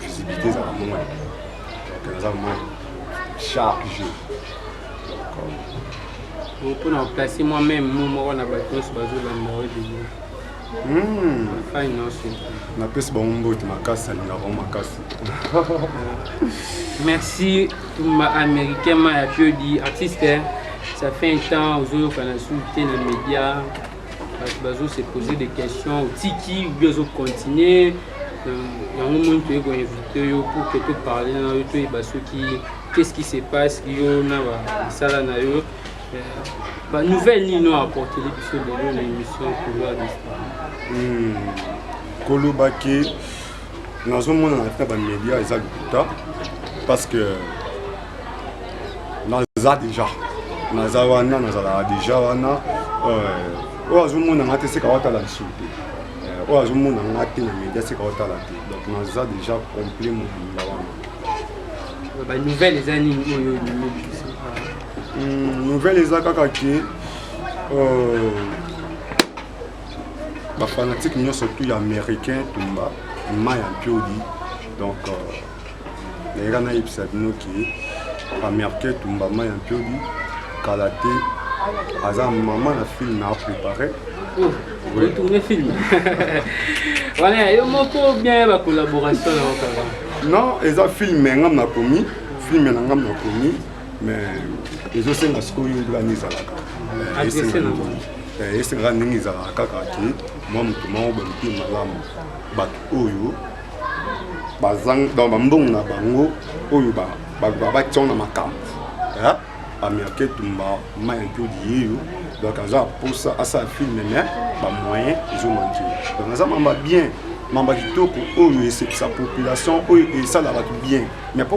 visibilité ezala moins donc naza moins chargé donc mpona euh, koplace moi même mo moko na bato nyonso bazolanda oyo debile hmm. fai nyonso napesi bango mbote makasi alinga bango makasi merci ma américain ma ya piodi artiste ça fait un temps ozoyokana su te na média bato bazo se poser des questions otiki obi ozo continuer yango moni toyei koinvite yo pour que toparle na yo toyeba soki qu'est-ce qui se passe yo na misala na yo banouvelle nini oyo apporteli biso lelo na émission couloir d'histoire koloba ke nazomona na tina bamédia eza lokuta parce que naza déjà naza wana nazalaka déjà wana euh, oyo azomona nga te seka watala lisusu te euh, oyo azomona nga te na média seka watala te donc naza déjà complet mobimba wana euh, banouvelle eza nini oyo hmm, nouvelle eza kaka ke ba fanatique nyonso tu ya américain tumba ma ya mpiodi donc nayeka euh, nayebisa bino ke américain tumba ma ya mpiodi kala te aza mama na film na aprépare otourne film wana yo moko bien ba collaboration na okaka non eza film ya ngam nakomi film na ngam nakomi mais ezosenga sikoyo nani ezalaka esengaka ndenge ezalaka kaka te mwa moto moko baluki malamu bato oyo bambongo na bango oyo batia na makambo américain tumba mai ntodi yeyo donc aza aposa asala filme me bamoyen ezomanke donc aza mamba bien mamba kitoko oyo esepisa population oyo esala bato bien mais mpo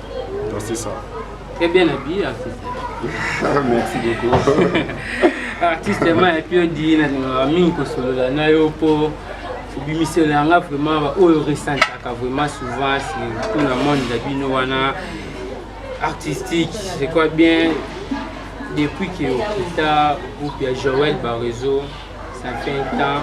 Donc c'est ça. Très bien habillé, artiste. Merci beaucoup. artiste ma epi odi nalingaka mingi kosolola na yo mpo obimiselo ya nga vraiment baoyo resentaka vraiment souvent surtout na monde na bino wana artistique je crois bien depuis que okita groupe ya joel bareseau ça fait un temps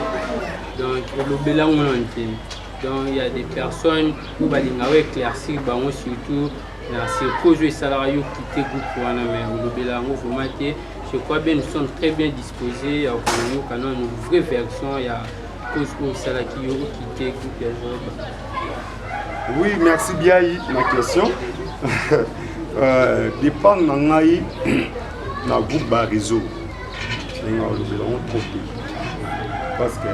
donc olobela ngo na ntemi donc il y a des personnes oyo balinga o éclaircir bango surtout na circose oyo esalaka yo kite groupe wana mais olobela yango vraiment te je crois bien nous sommes très bien disposé ya koyoka nanu vraie version ya cause oyo esalaki yo okite groupe ya zoba oui merci biai na question euh, dépend na ngai na groupe ba réseau ndenge olobela yango trop te parce que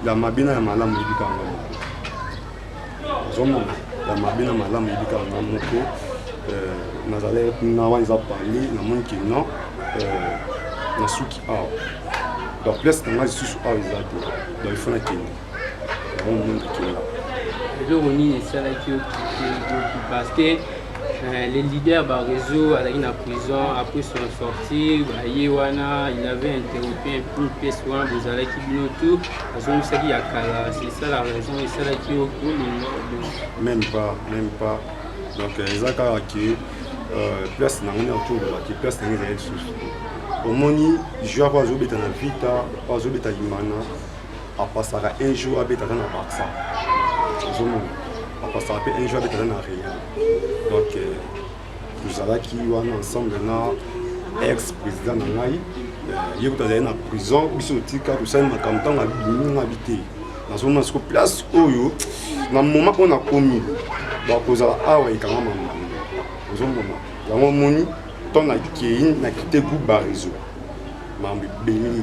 ya mabe na ya malamu oyebi kaka nga moko ozomona ya mabe na malamu oyebi kaka nga moko euh, nazali na wana eza parle namoni ke non euh, nasuki awa donc place na ngai lisusu awa eza te donc ifo nakende yango moni nakenda eloko nini esalaki okite parce que Euh, le leader Barezo azalaki na prison après son sortie baye wana il avait interrompu un peu mpesi wana bozalaki bino tout azongisaki ya kala c'est ça la raison esalaki yo kolinga même pas même pas donc euh, eza kaka ke euh, place na ngani akolobaki place na ngai ezali lisusu omoni joueur oyo azobeta na vita oyo azobeta imana apasaka un jour abeta aza na barça ozomona apasaka mpe un jour abeta aza na real donc euh, tozalaki wana ensemble na ex président na ngai euh, ye kutu azali na prison biso otika tosali makambo ntango abimi nga bi te nazomona siko place oyo na moma oyo nakomi bakozala awa ekanga mama ozomona yango omoni ntango nakei nakite groupe bareseau mambo ebele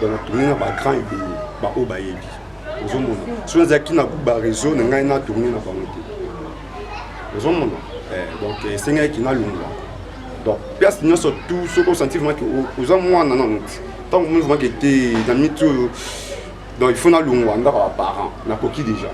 bana tourne na bagrand ebele baoyo bayebi ozomona soki nazalaki na bareseau na ngai na tourne na bango te ozomona eh, donc esengaki nalongwa donc place nyonso tout soki osanti vraimen oza mwana nano ntango omoni vraimen ke te na miti oyo donc il faut na longwa ndako ya parent na koki déjà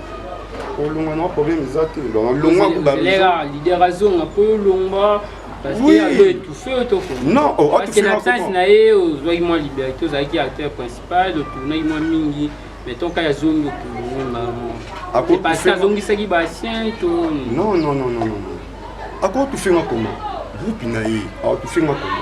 olongwa na problème eza te donc longwa kuba lela leader azonga po longwa parce oui. que alo étouffé otoko non oh, parce que na absence na ye ozwaki mwa liberté ozalaki acteur principal otournaki mwa mingi mais ton cas azongi okolonga mo parce que azongisaki basien to non non non non non akotufinga koma groupe na ye akotufinga koma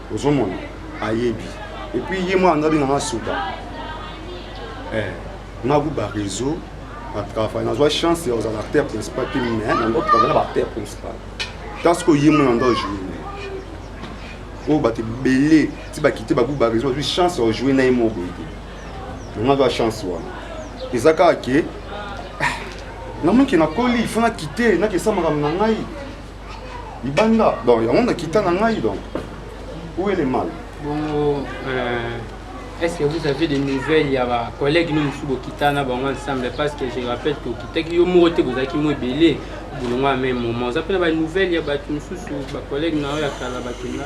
ozomona ayebi epuis ye mwana ndo abenga nga suka eh, naku bareseau na travail nazwa chance ya kozala acteur principal te mais nando travail na baacteur principal kasi ko ye mwana ndo ajoue oyo bato ebele ti bakite baku bareseau bazwi chance ya kojoue na ye moko boye te nanga azwa chance wana eza kaka ke ah, namonike nakoli fo nakite nakesa makambo na ngai libanda donc yango nakita na ngai donc où est le mal bongo euh, est ce que vous avez des nouvelles ya bacollègue no mosusu bokita na bango ensemble parce que je rappelle que okitaki yo moko te bozalaki mo ebele bolongo ya meme moment oza mpe na banouvelle ya bato mosusu bacollègue na yo ya kala bakenda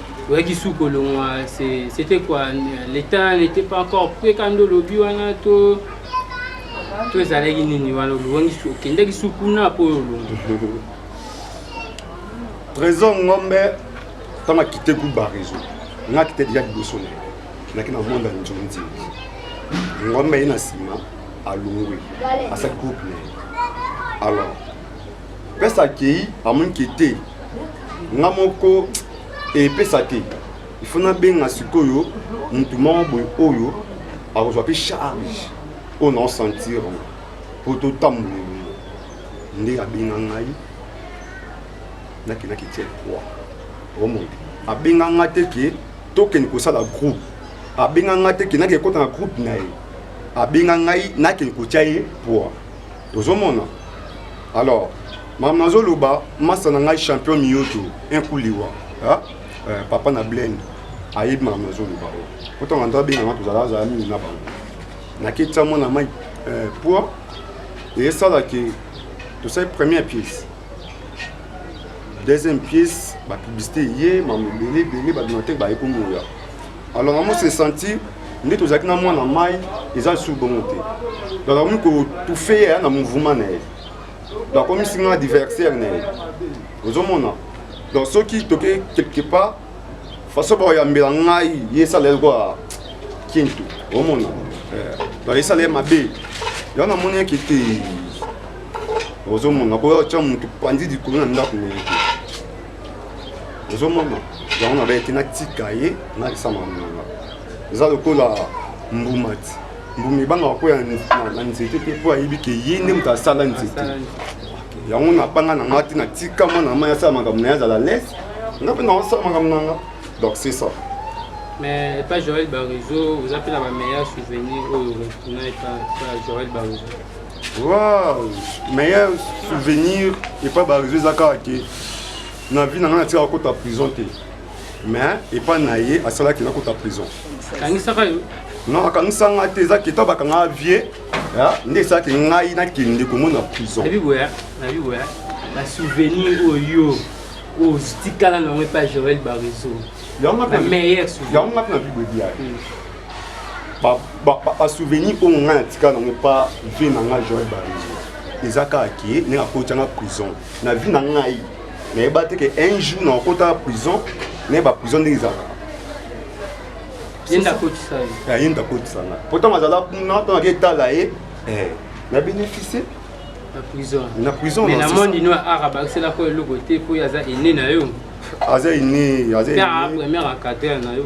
oyaki su kolongwa c'était quoi l'état n'était pas encore prêt kando olobi wana to to ezalaki nini wana oluwangi su okendaki su kuna mpo oyo olongi trésor ngombe ntango akite groupe barezo nga akite deja liboso na ye naki na monde ya njonzi ngombe ye na nsima alongwe asali groupe na ye alors pesa akei amoni ke te nga moko epesa te il faut nabenga sikoyo motu moko boye oyo akozwa mpe charge oyo naosentir yango mpo totambola elongo nde abenga ngai nakendaki tie croix omoi abenga ngai te ke tokende kosala groupe abenga ngai te ke nakende kota na groupe na ye abenga ngai nakende kotya ye poids ozomona alors makambo nazoloba masa na ngai champion miyoto inkuliwa eh, papa na blend ayebi makambo nazoloba oyo kotanga nto abenganga tozala azala mingi na bango naketisa mwana mai eh, poi esalaki tosali première pièce deuxième pièce bapiblicité eye makambo ebele ebele bato na te bayekomoya alors maman se sentir nde tozalaki na mwana mai eza lisusu bongo te donc akomi kotufe ye aya na mouvement na ye donc akomisi nga adversaire na ye ozomona donc soki toke quelque part façon bakoyambela ngai ye esala ye lokola kintu omona eh, donc esala ye mabe yango namoni yeke te ozomona koya otya motu panzi likolo na ndako na ye te ozomona yango na bayete natika ye nakisa mamonanga eza lokola mbuma ti mbuma ebangaka mpo na nzete te mpo ayebi ke ye nde moto asala nzete yango napanga na ngai te natika mwana na mai asala makambo na ye azala lese nga mpe naosala makambo na nga donc c'est ça mais epa joel barezo oza mpe na bameilleur souvenir oyo okuna epa joel barezo Wow, meilleur souvenir epa ba réseau eza kaka ke na vie na ngai natikaka kota prison te mais epa na ye asalaki nakota prison kangisaka yo non akangisa ngai te eza keta bakanga vie nde esalaki ngai nakende komona prison basouvenir oyo otikala nango epa joel bareseau yango ngapi na bible ebiaki basouvenir oyo ngai natika nango epa vie na ngai joel barezo eza kaka ke ndenge akotyanga prison na vie na ngai nayeba te ke un jour na okotaka prison naye baprison ndenge ezalaka ye nde akotisa ngai pourtant azala kuna ntango ake etala ye na bénéficie na prison mais na monde ino art abakisela ko eloko te mpo aza ene na yo aza ene aza ene première à cadre na yo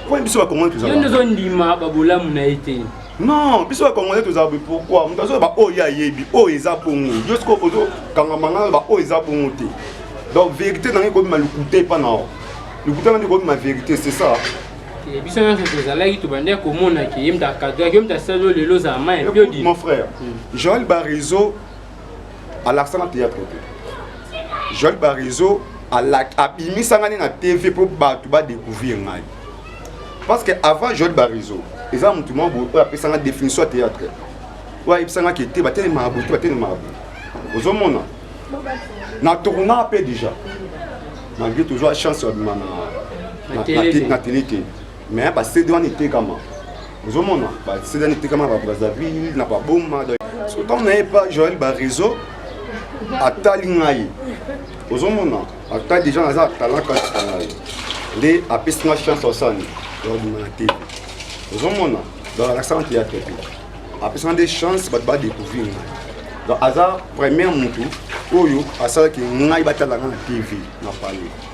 Pourquoi biso bakongolais tozala? Yo nde ozondima babolamu na ye te. Non, biso bakongolais tozala boye pourquoi? Moto azoya ba oyo ye ayebi, oyo eza bongo. Yo sikoyo ozokangama ngai ba oyo eza bongo te. Donc vérité na ngai ekobima lokuta epa na yo. Lokuta na ngai ekobima vérité, c'est ça. Eh, biso nyonso tozalaki tobandaki komona ke ye moto akadraki yo moto asali yo lelo ozala mai epiodi mon frère hmm. joel barizo alakisa na théâtre te joel barizo abimisa ngai na tv mpo bato badecouvrir ngai parce que avant joel barizo eza motu moko boye oyo apesanga définition ya théâtre oyo ayebisanga ke te batelemaka boye te batelemaka boye ozomona na tournaa mpe déjà malgré tozwa chance ya bima na tele te mais ba CD wana etekama ozomona ba CD wana etekama ba Brazzaville na ba Boma donc so tant na pas Joël ba réseau atali ngai ozomona ata déjà naza talent kati na ngai nde apesi nga chance osani yabima na te ozomona donc alakisa na théâtre te apesi nga nde chance bato badécouvrir ngai donc aza première motu oyo asalaki ngai batala ngai na tv na palais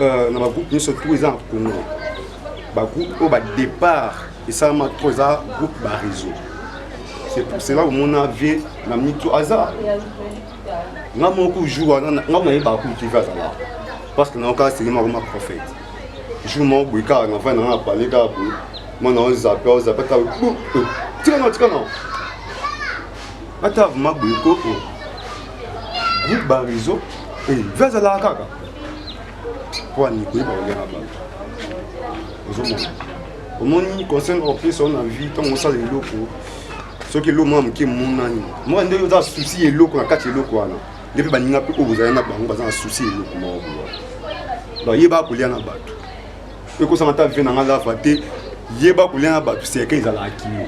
euh, na bagroupe nyonso to eza na congo bagroupe oyo badépart esalama to eza groupe bareseau c'est pour cela omona vie na mito aza nga moko jour wana nga nayebaka kultive azala parce que nayokaa senge moko ma prophète jour moko boye kaka na vai nanga na pale kaka boye mwana ozape ozape kaka tikana tikana ata avuma boye ko groupe barizo eh, ve azalaka kaka mpo anikoyeba kolyaka bato ozomona omoni conseil opesa yo na vie ntango osala eloko soki eloko mwa moke monani mwa nde oza susi eloko na kati eloko wana nde mpe baninga mpe oyo bozali na bango baza na susi eloko moko bowa donc yeba kolya na bato ekosanga ata vie na nga lava te yeba kolia na bato seke ezalaka kino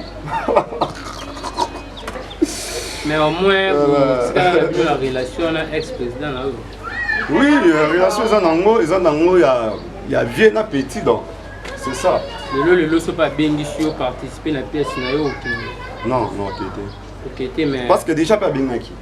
mais au moins otikala bino na relation na ex président na yo oui euh, relation eza nango eza nango ya vieux na petit donc c'est ça lelo lelo soki abengisi yo participe na pièce na yo okende non non okete okete mais parce que déjà mpe abengaki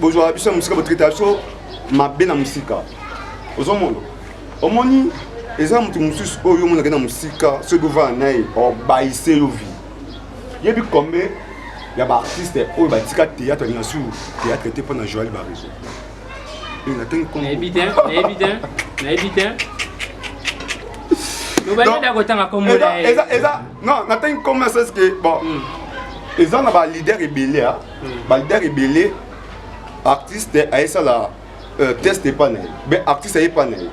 bozwaka biso na mosika botraitaka biso mabe na mosika ozomona omoni eza moto mosusu oyo omonaka na mosika soki bovana na ye obayise yo vi yebi combien ya baartiste oyo batika théâtre alinga sur théâtre te mpo na joel bareso nayebi te nayebi te nayebi te eza non natangi comme ça ce que bon hmm. eza na ba leader ebele ba leader ebele artiste ayesala euh, test epa na ye be artiste ayepa na ye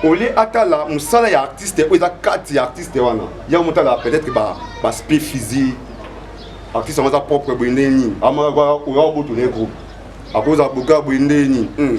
olie atala mosala ya artiste oyo eza kati ya artiste wana yango motala peut-être baspect physique artiste yango aza propre boye ndenge nini amaka oya boto na ye groupe akozala boka boye ndenge nini hmm.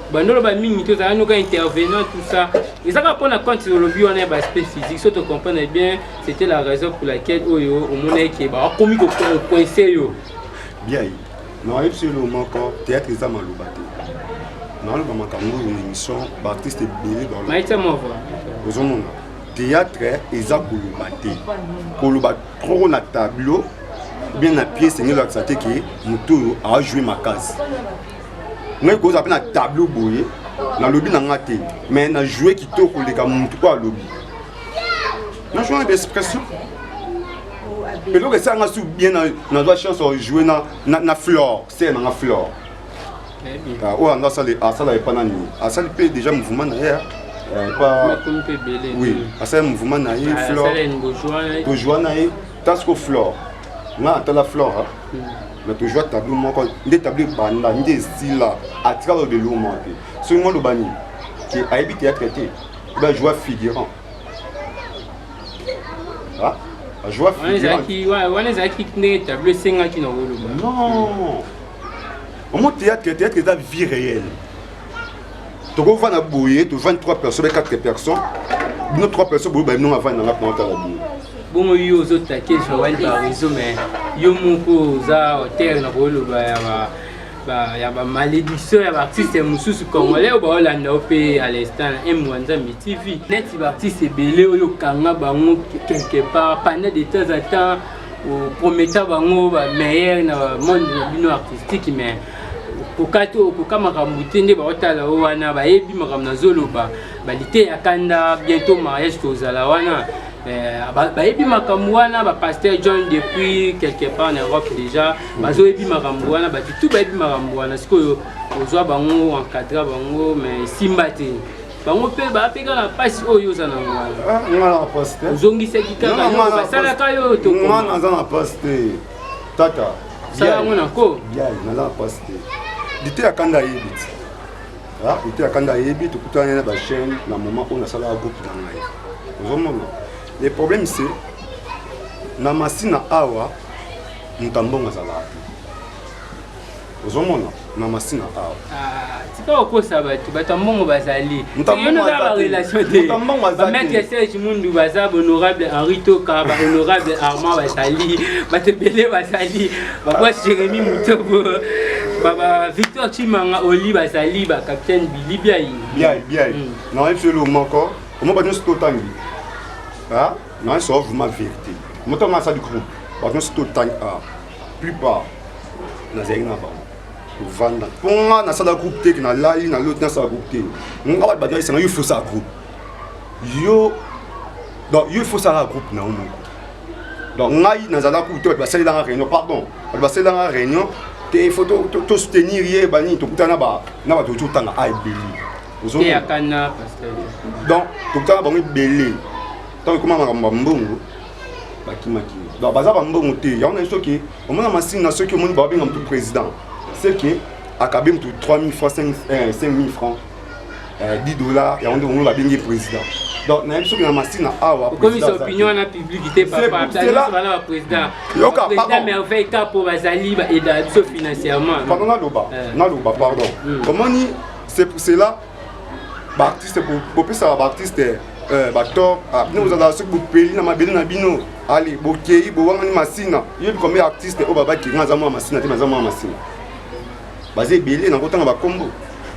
bandolo ba mingi te ozala noka intervenant tout ça ezaka mpo na compte olobi wana ya baaspect physique so to comprendre bien c'était la raison pour laquelle oyo oh, omonaki ke bakomi kocoince yo bien na oyebisi yo moko théâtre eza maloba te naloba makambo oyo na émission baartiste ebele ozomona théâtre eza koloba te koloba trop na tableau bien na pièce engeli olakisa te ke moto oyo ajoue makasi ngai kozala mpe na tableau boye nalobi na nga te mais na joue kitoko koleka motu oyo alobi na joue na baexpression eloko esala nga su bien nazwa chance ya joue na flore sere na nga flore ah, oyo anga asala epa nani asali mpe déjà mouvement na ye ah. eh, epa oui asali mouvement na ye flore tojoua na ye tasiko flore nga atala flora na tozwa tableau moko nde tableau ebanda nde esila atika loba eloko moko te soki ngo aloba nini ke ayebi théâtre te obe ajoua figurant ajoua figurantwana ezalaki nde tableau esengaki na koloba non omo théâtre théâtre eza vie réelle tokovanda boye tovandi 3 personnes be 4 personnes bino 3 personnes boyeba bino avandi nanga mpona otala bino bongo yo ozotake joel barizo mais yo moko oza auteur na koyoloba ya ba ya bamalédiction ya baartiste mosusu congolais oyo baolanda yo mpe à l'instant na emwa nzambe tv neti baartiste ebele oyo okanga bango quelque part pendant de temps à temps oprometa bango bameilleur na monde na bino artistique mais kokati okoka makambo te nde baotala o wana bayebi makambo nazoloba balite ya kanda bientôt mariage tozala wana Eh, bayebi makambo wana bapaster john depuis quelque part en europe déjà bazoyebi makambo wana bato tu bayebi makambo wana sikoyo ozwa bango encadra bango mais esimba te bango mpe bapeka na mpasi oyo oza na ngwana ah, ozongisaki kaka basalaka yo tokoma tata sala yango na ko yai naza na mpasi te lite ya kanda ayebi ti lite ya kanda ayebi tokutani na bachaine na moment oyo nasalaka groupe na ngai ozomona le problème se na masina awa moto ambongo azalaka te ozomona na masina awa ah, tika kokosa bato bato ya mbongo bazali yonoza barelation te bamaitre serge mundu baza bahonorable henri toka bahonorable armand bazali bato ebele bazali babwa jérémi motobo baba victor chimanga oli bazali bacapitaine bili biai biai biai hmm. nayebi solo moko omo bato nyonso totangi ah, nayebi solo vraimen vérité moto masali groupe bato nyonso totangi ah. plupart nazalaki na bango kovanda mpo nga nasala groupe te nalali na loti nasala groupe te nga bato bato esanga yo faut sala groupe yo donc yo faut sala groupe na yo moko donc ngai nazalaki kutu bato basalelanga réunion pardon bato basalelanga réunion te faut to soutenir ye banini tokutana na bato totanga a ebele donc tokutana bango ebele ntango ekoma makambo ya mbongo bakimaki donc baza bambongo te yango na biso ke omona masini na soki omoni babenga motu président c'est que akabe motu 3000 francs 5000 euh, francs 10 euh, dollars yango nde omoni babengi président donc nayebi soki na masina awa okomisa opinion wana publiki te papabana baprésident yoka président merveille kapo bazali baeda biso financièrement pardon naloba euh. naloba pardon hmm. omoni c'est pour cela baartiste bopesaka baartiste eh, bator ah, bino bozalaka soki bopeli na mabele na bino ale bokei bowangani masina yebi kombe ya artiste oyo babaki nga aza mwa masina te maza mwa masina baza ebele na kotanga bakombo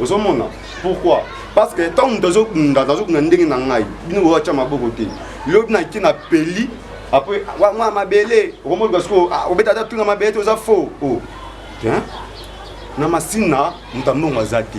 ozomona pourquoi parce que ntango moto azobunda nazobunda ndenge na ngai bino boatya maboko te lobi nake na peli apres mwa mabele okomoluka sikoyo ah, obeta ata tuna mabele te oza faux o oh. na masina moto ambongo aza te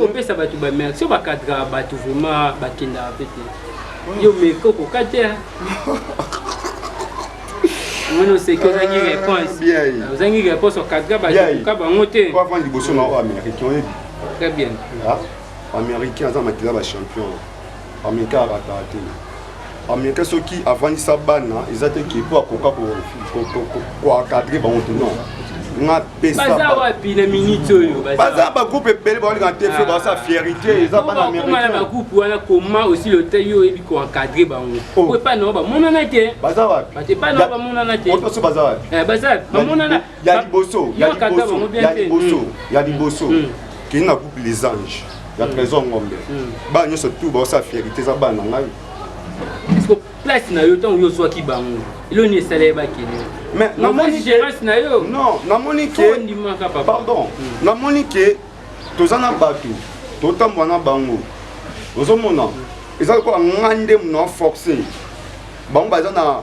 opesa bato bamerci oyo bakadraka bato vraiment bakendaka mpe te yo meke okoka te omoni oseki ozangi ah, réponse ozangi réponse okadra bakoka bango te avandi liboso na oyo américain oyebi très bien ah, américain aza makila bachampion Américain arataka te américain soki avandisa bana eza te ke mpo akoka koencadre bango te non baza wapi na minute oyo baza bagroupe ebele baolingana te fo baza fierité eza bana américain bagroupe wana koma osi loteli oyebi koencadre bango po epai na bango bamonana te baza wapi bato epai na bango bamonana te baza wapi baza wapi bamonana ya liboso ya liboso ya liboso ya liboso kende na groupe les anges ya trésor ngombe bana nyonso tu baosala fierité eza bana na ngai place na yo ntango yo ozwaki bango elo nini esala ye bakende mais namoni gérance na yo non namoni ke ondimaka papa pardon hmm. namoni ke toza na bato totambola na bango ozomona eza lokola ngai nde mona forcé bango baza na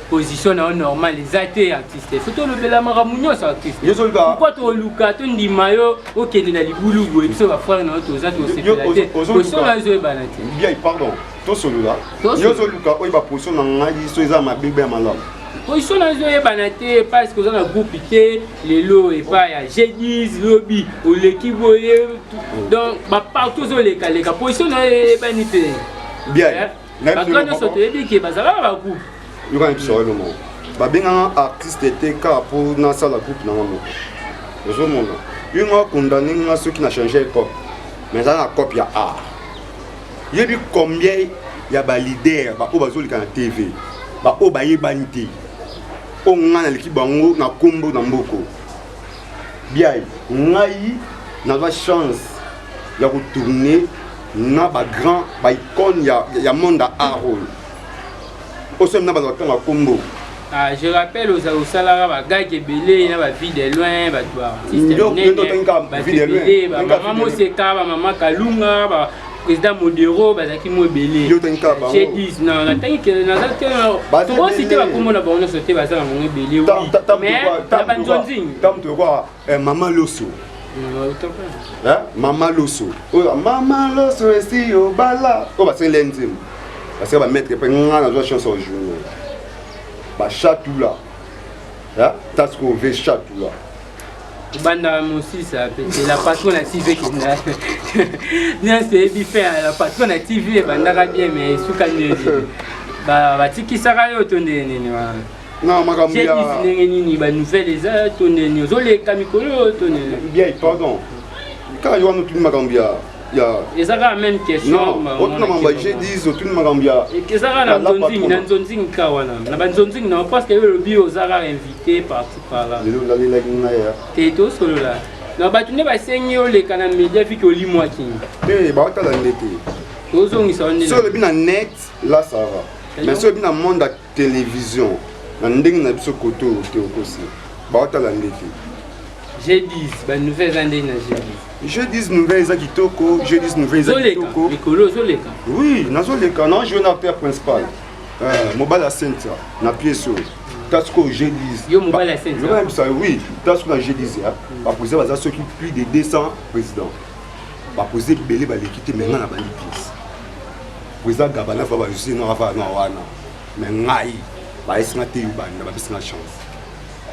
position na yo normal eza te artiste fo tolobela makambo nyonso artistepourkoi toluka tondima yo okende na libulu boye biso bafrere na yo toza tosepela te osona ezoyebana te pardon tosolola yo ozoluka oyo baposition na ngai so eza mabebe ya malamu position na ezoyebana te parce que oza na groupe te lelo epa ya g10 lobi oleki boye donc bapartout ozolekaleka position na yo eyebani te bien eh? bato nyonso toyebi ke bazalaka bakupe yoka na biso walo moko babenganga artiste te kaka mpo nasala groupe nanga moko ozomona yo nga condamne nga soki na change epoque mais ezala na cope ya art yebi combien ya balider baoyo bazoleka na tv baoyo bayebani te oyo ngai naleki bango na nkombo na mboko biai ngai nazwa chance ya kotourne na ba grand ba icone ya, ya monde ya art oyo osombi na bato batanga kombo Ah, je rappelle aux osalaka ba gag ebele na ba vie de loin ba toi artiste ba vie de loin ba maman moseka ba maman kalunga ba président modero bazalaki mo ebele chez 10 na natangi ke naza te tokosite bakombo na bango nyonso te baza na bango ebele mais na banzonzing Eh, maman Loso. Eh, maman Loso. Oh, maman Loso esi obala. Oh, ba sele nzembo. Ba sele ba mettre pe nga na zo chance au jour. Ba chatula. Eh, tas ko ve chatula. banda mosisa pe c'est la patron na tv kenda bien c'est bi fait la patron na tv ebandaka bien mais suka nini batikisaka yo to nde nini wana na makambo ya ndenge nini ba nouvelle eza to ndeni ozoleka mikolo to ndeni bien pardon kaka yo wana otuni makambo ya ya eza kaka même question otuna makambo ya g10 otuni makambo ya eza kaka na nzonzingi na nzonzingi kaka wana na banzonzingi na parce que yo olobi oza kaka invité parti par là lelo olalelaki ngai ya te tosolola na bato nde basengi oleka na media fiki olimwaki te baotala nde te tozongisa wana so olobi na net la sava mais so olobi na monde television na ndenge na biso kote oyo te okosi baotala nde te g10 banouvelle eza ndenge na g10 g10 nouvelle eza kitoko g10 nouvelle eza kitoko mikolo ozoleka oui nazoleka na joue na père principal euh, mobali ya sentia na piese oyo tasiko g10yebisa oui tasiko na g10 ya bapoze baza soki plus de 200 président bapoze ebele baleki te menga na bandi piese président gabana fa bajusi na wana mais ngai bayesi nga te yubanda bapesi nga chance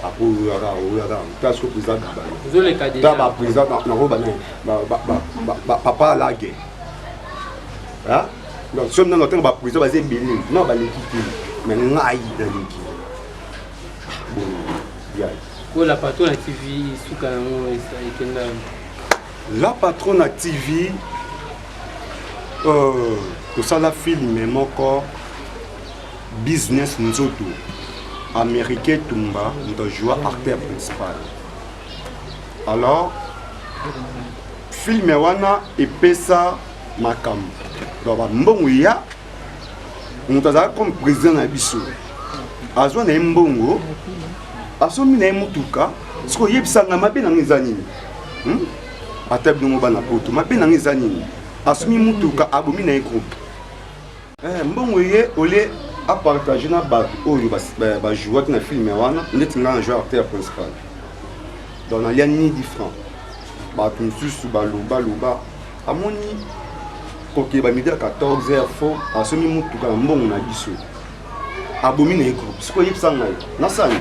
apo oyaka oyaka place ko président dubanda ta ba président nako bane papa alage donc soki nano ntango ba président baza ebele na baleki te mais ngai naleki la patrona tv suka yango ekenda la patrona tv Euh, tosala filme moko business nzoto américain tumba moto ajoua acteur principal alors filme wana epesa makambo donc bambongo ya moto azalaka comme président na biso azwa na ye mbongo asombi na ye motuka soki oyebisa ngai mabe na ngai eza nini hmm? ata binongo bana poto mabe nanga eza nini asumi mutuka abomi na ye groupe eh, mbongo ye olie apartage na bato oyo bajouaki na filme wana ndeti ngai na joi acteur principal donc nalia ni different bato mosusu baloba loba amoni kokeba midi ya 14 heure fo asombi motuka na mbongo na biso abomi na ye groupe sikoyebisa ngai nasani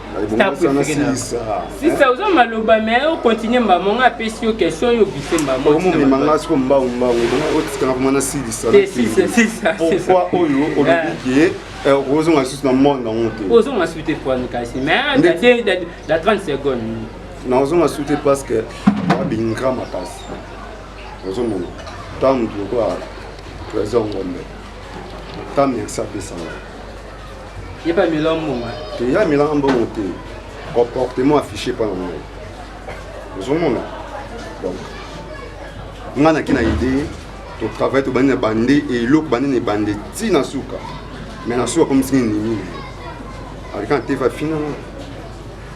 star préféré na sisa oza maloba me o continue mbamo nga apesi yo question yo bise mbamomema nga siko mbangu mbangu otikanga kuma na silisa pourquoi oyo olobi ke ah. eh, okozonga lisusu na monde yango te ozonga susu te pwani kasi mais da 30 seconde nazonga susu te parce que abingra makasi ozomona ntango motu lokola trésor ngombe ntango merci apesanga Ye pa mela mbongo. Te ya mela mbongo te. Comportement affiché par moi. Ozomona. Donc nga na kina idée to travail to bandi na bande et eloko bandi na bande ti na suka. Mais na suka comme singi nini. Alika te va finalement.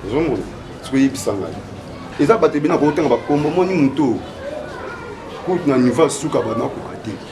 Ozomona. Soki yebisa ngai. Eza bato ebina ko tanga ba kombo moni muto. Kutu na niveau suka ba na ko kate.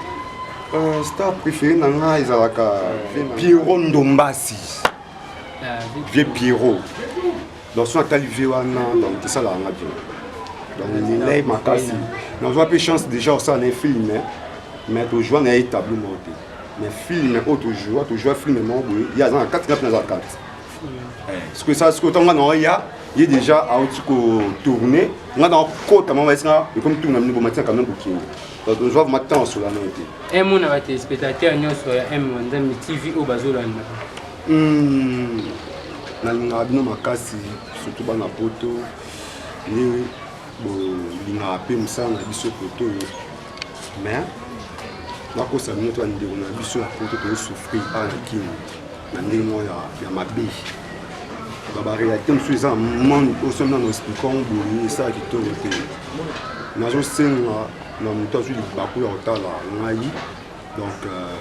Euh, star préféré na nga ezalaka pierrot ndombasi vieux pierrot donc soki atali vie wana donc esalaka nga bien donc milai makasi nazwa mpe chance déjà osala na ye film mais tozwa na ye tableau moko te mais film oyo tozwa tozwa film moko boye ye aza na kati ngapi naza kati eh, sikoyo esala sikoyo ntango nga naoya ye déjà auti kotourne nga nakokota mama esi nga ekomi tuna mini bomati na camion bokende donc ozwa vraimen temps osola nayo te emona batelespectateur nyonso ya m nzambe tv oyo bazolanda hmm, nalingaka bino makasi surtout bana poto nde bolingaka mpe mosala na biso poto mais nakosa bino to bandeko na biso ya poto tozosouffrir awa na kini na ndenge moko ya mabe babarealité mosusu eza mani osomina na spikango bolingi esala kitoko te nazosenga na moto azwi libaku ya kotala ngai donc euh,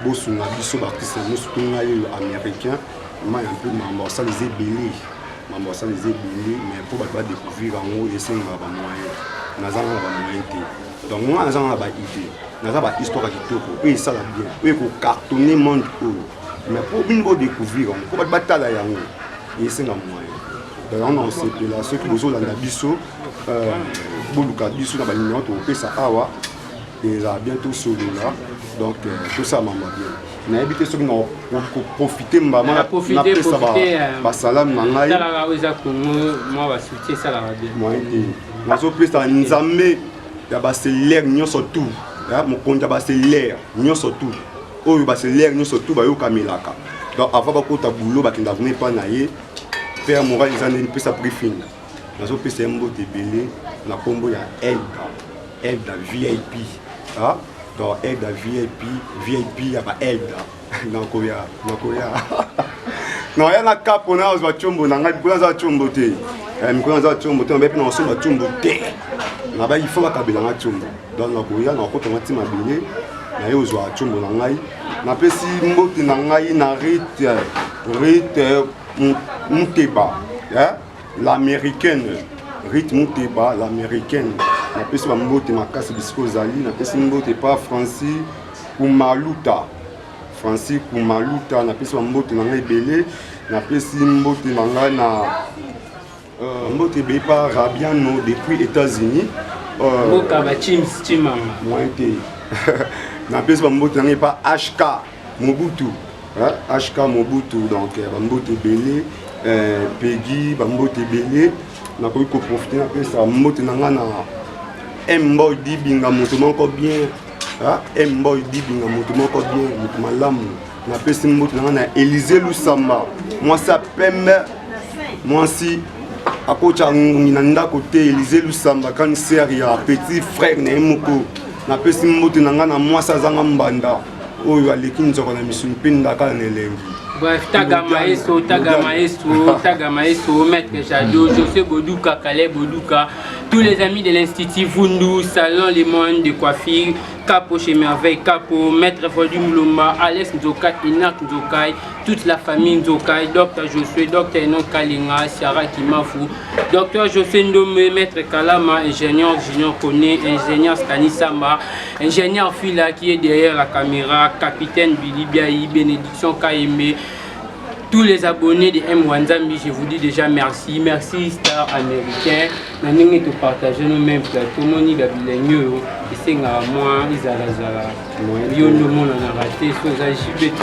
bosunga biso baartiste yango surtout ngai oyo américain mai un peu mambo asala eza ebele mambo asala eza ebele mais mpo bato badécouvrir yango esengaka bamoyen nazanga na bamoyen te donc ngai nazanga na baide naza bahistoire ya kitoko oyo esala bien oyo ekocartonne monde oyo mais mpo bino bodécouvrir yango mpo bato batala yango esenga moyen donc yango na osepela soki bozolanda biso Euh, boluka biso na banimero tokopesa awa ezala bien tosolola donc euh, tosalama bien nayebi te soki nakoprofite mbama ah, napesa basalame na ngai nazopesa nzambe ya baselere nyonso tout mokonzi ya baselere nyonso tout oyo baselere nyonso tout bayokamelaka donc avant bakota bulo bakenda vraimen epai na ye père moral eza nde mpesa briefing nazopesa ye mbote ebele na nkombo ya elda elda vip ah, donc elda vip vip ya ba elda nakoya nakoya naya na kapo na azwa combo na ngai mikolo aza combo te eh, mikolo aza combo te nabai mpe nakosomba combo te nabai ifo bakabela ngai combo donc nakoya nakokota ngai ti mabele naye ozwa combo na ngai napesi mbote na ngai na rite rite muteba eh? L'américaine Rite Muteba, l'américaine. Napesi ba mbote makasi bisika ozali, napesi mbote pa Francis Kumaluta. Francis Kumaluta, napesi ba mbote na ngai ebele, napesi mbote na ngai na euh, mbote ebele pa Rabiano depuis États-Unis. Euh, Mboka ba Chims Chimanga. Moyen te. napesi ba mbote na ngai pa HK. Mobutu, hein? HK Mobutu, donc euh, bambote ebele, euh, Peggy, bambote ebele. Nakoki koprofite napesa mbote na ngai na Mboy Dibinga, moto moko bien. Hein? Mboy Dibinga, moto moko bien, moto malamu. Napesi mbote na ngai na Elise Lusamba, mwasi ya pembe, mwasi akotya ngungi na ndako te elize lusamba kanisere ya petit frère na ye moko napesi mbote na ngai na mwasi azanga mbanda oyo aleki nzoko na misuni mpe ngakala na elengi Bref, taga maestro, taga maestro, taga maestro, maître Jadot, José Boduka, Calais Boduka, tous les amis de l'Institut Vundu, Salon Les Moines de Coiffure, Capo chez Merveille, Capo, Maître Fodi Moulomba, Alex Nzokai, Inak Nzokai, toute la famille Nzokai, Docteur Josué, Docteur Enon Kalinga, Sarah Kimafu, Docteur José Ndomé, Maître Kalama, Ingénieur Junior Koné, Ingénieur Stanisama, Ingénieur Fila qui est derrière la caméra, Capitaine Billy Biaï, Bénédiction Kaembe, tous les abonnés de M. Wanzambi, je vous dis déjà merci. Merci Star Américain. Na ndenge to partager nos mêmes plateaux, moni gabilenyo yo, esenga moi izala zala. Yo ndo mona na raté, soza jibete.